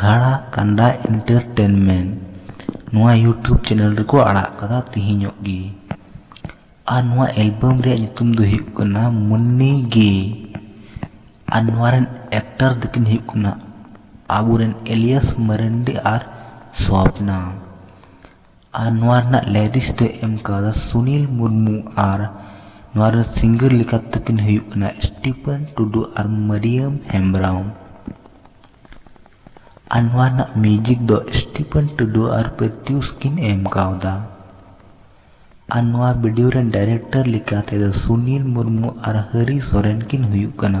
ᱜᱷᱟᱬᱟ ᱠᱟᱱᱰᱟ ᱤᱱᱴᱟᱨᱴᱮᱱᱢᱮᱱᱴ ᱱᱚᱣᱟ YouTube channel ᱨᱮᱠᱚ ᱟᱲᱟᱜ ᱟᱠᱟᱫᱟ ᱛᱮᱦᱮᱧᱚᱜ ᱜᱮ ᱟᱨ ᱱᱚᱣᱟ ᱮᱞᱵᱟᱢ ᱨᱮᱭᱟᱜ ᱧᱩᱛᱩᱢ ᱫᱚ ᱦᱩᱭᱩᱜ ᱠᱟᱱᱟ ᱢᱩᱱᱱᱤ ᱜᱮ ᱟᱨ ᱱᱚᱣᱟ ᱨᱮᱱ ᱮᱠᱴᱟᱨ ᱫᱚᱠᱤᱱ ᱦᱩᱭᱩᱜ ᱠᱟᱱᱟ ᱟᱵᱚ ᱨᱮᱱ ᱮᱞᱤᱭᱟᱥ ᱢᱟᱨᱟᱱᱰᱤ ᱟᱨ ᱥᱚᱯᱱᱟ ᱟᱨ ᱱᱚᱣᱟ ᱨᱮᱱᱟᱜ ᱞᱟᱭᱨᱤᱥ ᱫᱚ ᱮᱢ ᱟᱠᱟᱫᱟ ᱥᱩᱱᱤᱞ ᱢᱩᱨᱢᱩ ᱟᱨ ᱱᱚᱣᱟ ᱨᱮᱱ ᱥᱤᱝᱜᱟᱨ ᱞᱮᱠᱟᱛᱮ ᱫᱚᱠᱤᱱ ᱦᱩᱭᱩᱜ ᱠᱟᱱᱟ ᱥᱴᱤᱯᱷᱟᱱ ᱴᱩᱰᱩ ᱟᱨ ᱢᱟᱹᱨᱤᱭᱟᱹᱢ ᱦᱮᱢᱵᱽᱨᱟᱢ ᱟᱨ ᱱᱚᱣᱟ ᱨᱮᱱᱟᱜ ᱢᱤᱭᱩᱡᱤᱠ ᱫᱚ ᱥᱴᱤᱯᱷᱮᱱ ᱴᱩᱰᱩ ᱟᱨ ᱯᱨᱮᱛᱤᱭᱩᱥ ᱠᱤᱱ ᱮᱢ ᱠᱟᱣᱫᱟ ᱟᱨ ᱱᱚᱣᱟ ᱵᱷᱤᱰᱤᱭᱳ ᱨᱮᱱ ᱰᱟᱭᱨᱮᱠᱴᱚᱨ ᱞᱮᱠᱟ ᱛᱮᱫᱚ ᱥᱩᱱᱤᱞ ᱢᱩᱨᱢᱩ ᱟᱨ ᱦᱟᱹᱨᱤ ᱥᱚᱨᱮᱱ ᱠᱤᱱ ᱦᱩᱭᱩᱜ ᱠᱟᱱᱟ᱾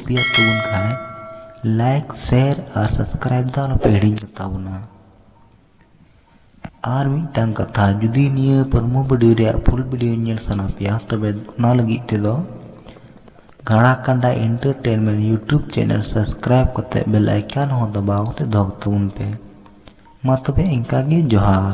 ᱠᱩᱥᱤᱭᱟᱜ ᱛᱟᱵᱚᱱ ᱠᱷᱟᱡ ᱞᱟᱭᱤᱠ ᱥᱮᱭᱟᱨ ᱟᱨ ᱥᱟᱵᱥᱠᱨᱟᱭᱤᱵᱽ ᱫᱚ ᱟᱞᱚᱯᱮ ᱦᱤᱲᱤᱧ ᱠᱟᱛᱟ ᱵᱚᱱᱟ ᱟᱨ ᱢᱤᱫᱴᱟᱝ ᱠᱟᱛᱷᱟ ᱡᱩᱫᱤ ᱱᱤᱭᱟᱹ ᱯᱨᱳᱢᱳ ᱵᱷᱤᱰᱤᱭᱳ ᱨᱮᱭᱟᱜ ᱯᱷᱩᱞ ᱵᱷᱤᱰᱤᱭᱳ ᱧᱮᱞ ᱥᱟᱱᱟ ᱯᱮᱭᱟ ᱛᱚᱵᱮ ᱚᱱᱟ ᱞᱟᱹᱜᱤᱫ ᱛᱮᱫᱚ ᱜᱟᱲᱟ ᱠᱟᱸᱰᱟ ᱤᱱᱴᱟᱨᱴᱮᱱᱢᱮᱱᱴ ᱤᱭᱩᱴᱩᱵᱽ ᱪᱮᱱᱮᱞ ᱥᱟᱵᱥᱠᱨᱟᱭᱤᱵᱽ ᱠᱟᱛᱮ ᱵᱮᱞ ᱟᱭᱠᱟᱱ ᱦᱚᱸ ᱫᱟᱵᱟᱣ ᱠᱟᱛᱮ ᱫᱚᱦᱚ ᱠᱟᱛᱟᱵᱚᱱ ᱯᱮ ᱢᱟ ᱛᱚᱵᱮ ᱤᱱᱠᱟᱹ ᱜᱮ ᱡᱚᱦᱟᱨ